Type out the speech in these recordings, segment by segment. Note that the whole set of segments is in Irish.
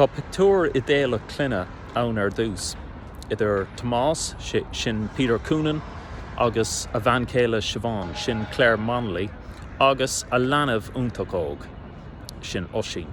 Tá pictiúr idéalach clainne ann ar dtús, idir Tomás, sin Peter Coonan, agus a bhean chéile Siobhán, sin Clare Monnelly, agus a leanbh iontach óg, sin Oisín.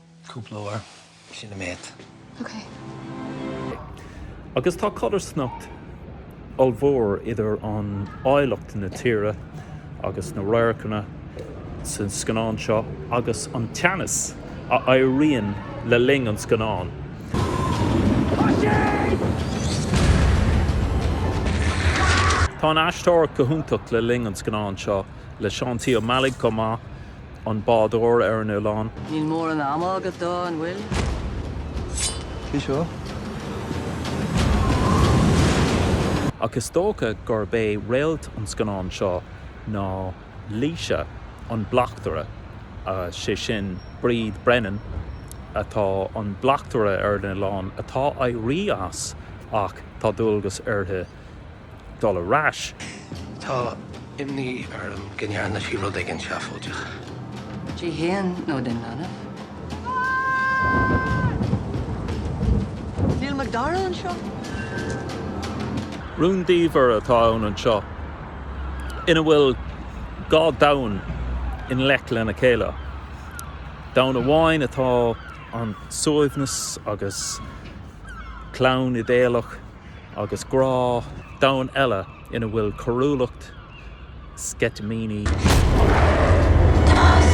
cúpla uair. Sin an méid. Ok. Agus tá codarsnacht ollmhór idir an áilleacht na tíre agus na radharcanna san scannán seo agus an teannas a éiríonn le linn an scannáin. Tá an aisteoireacht go hiontach le linn an scannáin seo. le Seán T. Ó Meallaigh chomh maith, an bádóir ar an oileán. Níl móran ama agat dó, an bhfuil? Cé seo? Ach is dócha gurb é réalt an scannáin seo ná Laoise, an bleachtaire, sé sin Bríd Brennan atá an bleachtaire ar an oileán atá éirí as ach tá dualgas uirthi, dul ar ais. Tá imní orm go ndearna sí rud éigin seafóideach. Di féin nó don leanbh? Níl Macdara anseo? Rúndiamhair atá ann anseo ina bhfuil dhá domhan i ngleic lena chéile. Domhan amháin atá ann suaimhneas agus clann idéalach. Agus grá, domhan eile ina bhfuil coiriúlacht, sceitimíní agus gnéas.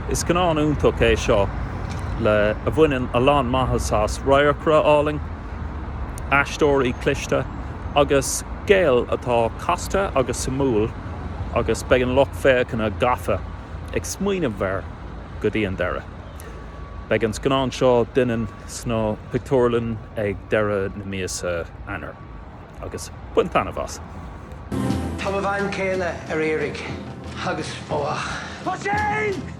Is scannán iontach é seo le a bhaineann a lán maitheas as, radharcra álainn, aisteoirí cliste agus scéal atá casta agus suimiúil agus beidh an lucht féachana gafa, ag smaoineamh air go dtí an deireadh. Beidh an scannán seo Doineann sna pictiúrlann ag deireadh na míosa Eanáir agus bain taitneamh as! Tá mo bhean chéile ar iarraidh agus fágadh. Tá sé!